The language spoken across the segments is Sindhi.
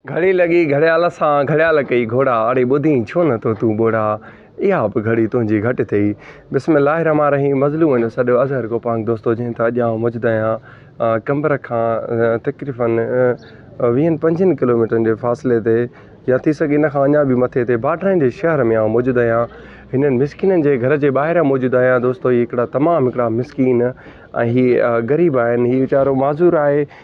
گهڙي لڳي گهڙيال سان گهڙيال ڪئي گهوڙا اڙي ٻڌين ڇو نه ٿو تون ٻوڙا اها به گهڙي تنهنجي گهٽ ٿئي بسم الله الرحمٰن الرحيم مظلومن جو سڏ اظهر گوپانگ دوستو جنهن تي اڄ آئون موجود آهيان قمبر کان تقريباً ويهن پنجين ڪلوميٽرن جي فاصلي تي يا ٿي سگهي ان کان اڃا به مٿي تي باڊرن جي شهر ۾ آئون موجود آهيان هنن مسڪينن جي گهر جي ٻاهران موجود آهيان دوستو هي هڪڙا تمام هڪڙا مسڪين ۽ هي غريب آهن هي ويچارو معذور آهي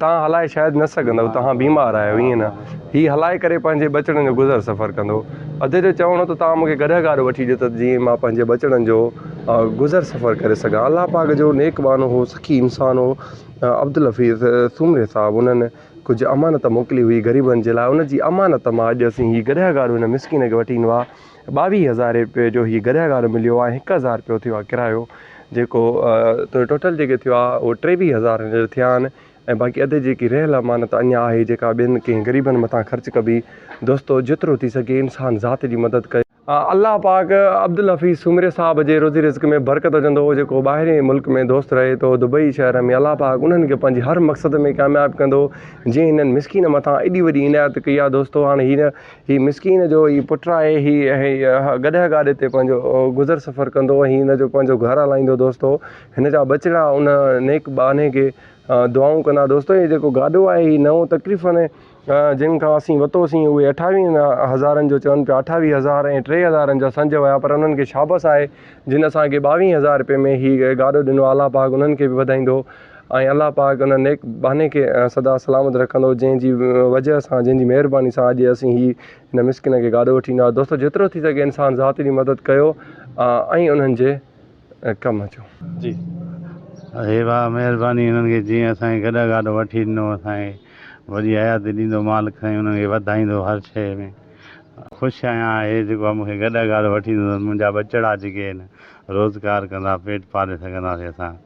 توهان هلائي شايد نه سگهندؤ، توهان بيمار آهيو، ائين نه؟ هي هلائي ڪري پنهنجي ٻچڙن جو گذر سفر ڪندو. ادي جو چوڻ هو ته توهان مونکي گڏهه گاڏو وٺي ڏيو ته جيئن مان پنهنجي ٻچڙن جو گذر سفر ڪري سگهان. الله پاڪ جو نيڪ ٻانهو هو، سخي انسان هو عبدالحفيظ سومري صاحب انهن ڪجهه امانت موڪلي هئي غريبن جي لاء، ان جي امانت مان اڄ اسين هي گڏهه گاڏو هن مسڪين کي وٺي ڏنو آهي. ٻاويهه هزار رپيي جو هي گڏهه گاڏو مليو آهي هڪ هزار رپيو ٿيو آهي ڪرايو جيڪو ٽوٽل جيڪي ٿيو آهي اهو ٽيويهه هزار هينئر ٿيا آهن ۽ باقي اڌ جيڪي رهيل امانت اڃا آهي جيڪا ٻين ڪنهن غريبن مٿان خرچ ڪبي دوستو جيترو ٿي سگهي انسان ذات جي مدد ڪري الله پاڪ عبدالحفيظ سومري صاحب جي روزي رزق ۾ برڪت وجهندو هو جيڪو ٻاهرين ملڪ ۾ دوست رهي ٿو دبئي شهر ۾ الله پاڪ انهن کي پنهنجي هر مقصد ۾ ڪامياب ڪندو جنهن هنن مسڪين مٿان ايڏي وڏي عنايت ڪئي آهي دوستو هاڻي هن هي مسڪين جو ئي پٽ آهي. هي اها گڏهه گاڏي تي پنهنجو گذر سفر ڪندو ۽ هي هن جو پنهنجو گهر هلائيندو دوستو. هن جا ٻچڙا ان نيڪ ٻانهي کي دعائون ڪندا. دوستو هي جيڪو گاڏو آهي هي نئون تقريفن جن کان اسين وتو سين اهي اٺاويهن هزارن جو چون پيا اٺاويهه هزار ۽ ٽي هزارن جا سنج ويا پر انهن کي شابس آهي جن اسان کي ٻاويهن هزار رپئي ۾ هي گاڏو ڏنو آلا پاڪ انهن کي به وڌائيندو. ۽ الله پاڪ ان نيڪ ٻانهي کي سدا سلامت رکندو جنهن جي وجه سان جنهن جي مهرباني سان اڄ اسين هي هن مسڪين کي گاڏو وٺي ايندا دوستو جيترو ٿي سگهي انسان ذات جي مدد ڪيو ۽ انهن جي ڪم اچو جي هي با مهرباني انهن کي جيئن اسان کي گڏا گاڏو وٺي ڏنو اسان کي وڏي حياتي ڏيندو مالڪ سائين انهن کي وڌائيندو هر شي ۾ خوش آهيان هي جيڪو مون کي گڏا گاڏو وٺي ڏيندو منهنجا ٻچڙا جيڪي آهن روزگار ڪندا پيٽ پالي سگهنداسي اسان